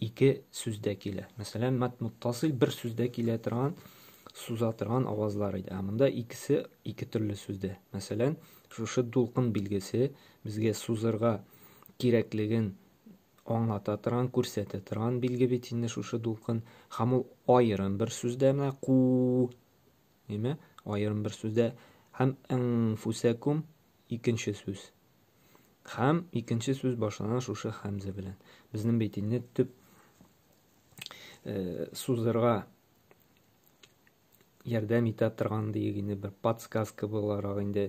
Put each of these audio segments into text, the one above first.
ике сүздә килә. Мәсәлән, мат муттасил бер сүздә килә торган, суза торган авазлар иде. Ә монда икесе ике төрле сүздә. Мәсәлән, шушы дулкын билгесе безгә сузырга кирәклеген аңлата торган, күрсәтә торган билге бит инде шушы дулкын. Һәм ул аерым бер сүздә менә ку, әйме? Аерым бер сүздә һәм инфусакум икенче сүз. Хәм икенче сүз башлана шушы хәмзә белән. Безнең бит инде төп э, сузырга ярдәм итә торган диек инде бер подсказка буларак инде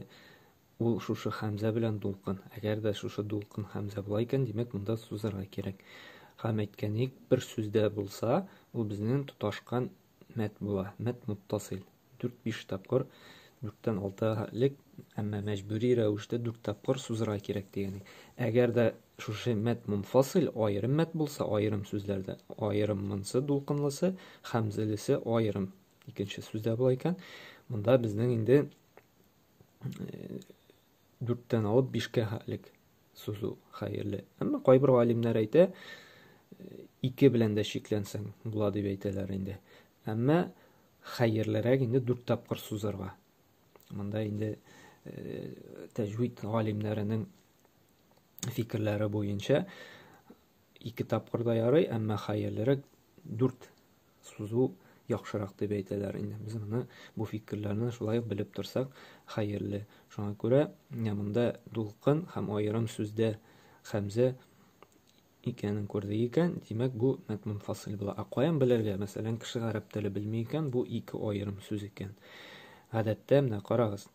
ул шушы хәмзә белән дулкын әгәр дә шушы дулкын хәмзә була икән димәк монда сузырга кирәк һәм әйткәнек бер сүздә булса ул безнең тоташкан мәт була мәт муттасил 4-5 тапкыр, 4-тән 6 элек, әмма мәҗбүри рәвештә 4 тапкыр сузырга кирәк дигән. Әгәр дә шушы мәт мунфасил аерым мәт булса, аерым сүзләрдә аерым монсы дулкынлысы, хәмзәлесе аерым. Икенче сүздә була икән, монда безнең инде э, дүрттән алып бишкә хәтлек сузу хәерле. Әмма кайбер галимнәр әйтә, ике белән дә чикләнсәң була дип әйтәләр инде. Әмма хәерлерәк инде дүрт тапкыр сузарга. Монда инде э, тәҗвид галимнәренең фикерләре буенча ике тапкыр да ярый, әмма хәерлерәк дүрт сузу яхшырак дип әйтәләр инде. Без моны бу фикерләрне шулай ук белеп торсак хәерле. Шуңа күрә менә монда дулкын һәм аерым сүздә хәмзә икәнен күрде икән, димәк бу мәтмун фасил була. Ә каян белергә? Мәсәлән, кеше гарәп теле белми икән, бу ике аерым сүз икән. Гадәттә менә карагыз.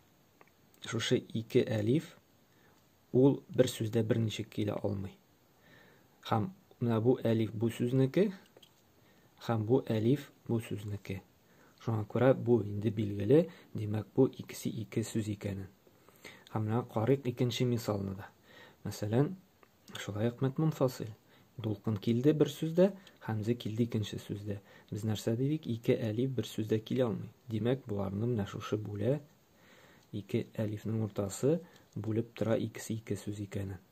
Шушы ике әлиф ул бер сүздә берничек килә алмый. Хәм менә бу әлиф бу сүзнеке, хәм бу әлиф бу сүзнеке. Шуңа күрә бу инде билгеле, димәк бу икесе ике сүз икәнен. Хәм менә карыйк икенче мисалны да. Мәсәлән, шулай ук мәтмун фасил. Дулкын килде бер сүздә, хәмзә килде икенче сүздә. Без нәрсә дидек? Ике әлиф бер сүздә килә алмый. Димәк, боларны менә шушы бүлә ике әлифнең уртасы бүлеп тора икесе ике сүз икәнен.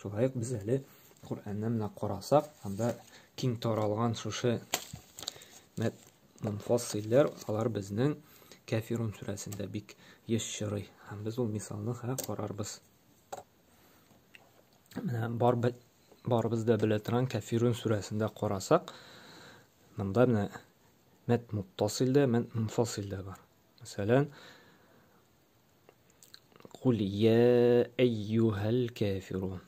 Шулай ук без әле Коръәнне менә карасак, анда киң таралган шушы мәт мунфассилләр, алар безнең Кәфирун сүрәсендә бик еш чорый. Һәм без ул мисалны хә карарбыз. Менә бар барыбыз да белә торган Кәфирун сүрәсендә карасак, монда менә мәт муттасилдә, мәт мунфассилдә бар. Мәсәлән, Кул я әйюһәл кәфирун.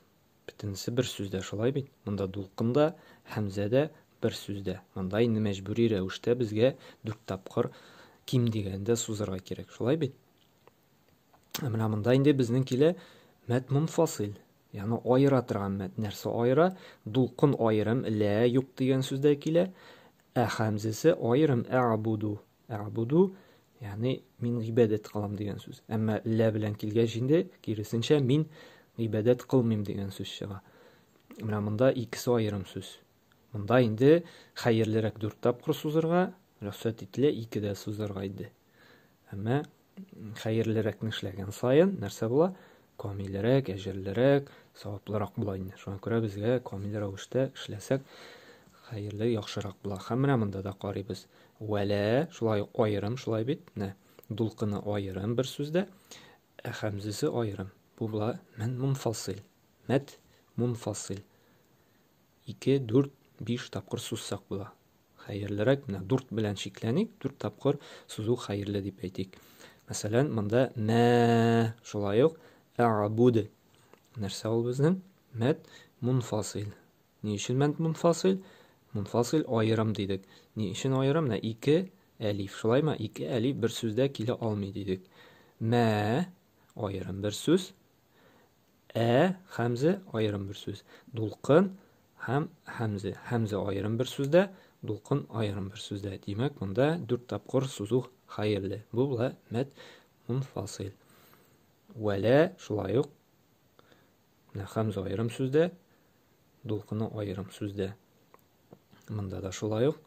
Бөтенесе бер сүздә шулай бит. Монда дулкында, хәмзәдә бер сүздә. Монда инде мәҗбүри рәвештә безгә дүрт тапкыр ким дигәндә сузырга кирәк. Шулай бит? Ә менә монда инде безнең килә мәт мунфасил. Яны аера торган мәт. Нәрсә аера? Дулкын аерым лә юк дигән сүздә килә. Ә хәмзәсе аерым әбуду. Әбуду, ягъни мин гыйбадәт кылам дигән сүз. Әмма лә белән килгәч инде киресенчә мин гыйбадәт кылмыйм дигән сүз чыга. Менә монда икесе аерым сүз. Монда инде хәерлерәк дүрт тапкыр сузырга, рөхсәт ителә ике дә сузырга инде. Әмма Хәерлерәкне эшләгән саен нәрсә була? Камилрәк, әҗерлерәк, саваплырак була инде. Шуңа күрә безгә камил рәвештә эшләсәк, хәерле, яхшырак була. Һәм менә монда да карыйбыз. Вәлә, шулай ук аерым, шулай бит? Менә дулкыны аерым бер сүздә, ә хәмзәсе аерым. Бу була мин мунфасил. Мәт мунфасил. ике, дүрт, биш тапкыр сузсак була. Хәерлерәк менә дүрт белән чикләник, дүрт тапкыр сузу хәерле дип әйтик. Мәсәлән, монда мә шулай ук әгъбуд. Нәрсә ул безнең? Мәд мунфасил. Ни өчен мәд мунфасил? Мунфасил аерым дидек. Ни өчен аерым? Менә ике әлиф. Шулаймы? Ике әлиф бер сүздә килә алмый дидек. Мә аерым бер сүз. Ә хәмзе аерым бер сүз. Дулкын һәм хәмзе. Хәмзе аерым бер сүздә, дулкын аерым бер сүздә. Димәк, монда дүрт тапкыр сузу хәерле. Бу була мәт мунфасил. Вәлә шулай ук хәмзе аерым сүздә, дулкыны аерым сүздә. Монда да шулай ук.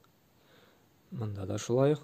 Монда да шулай ук.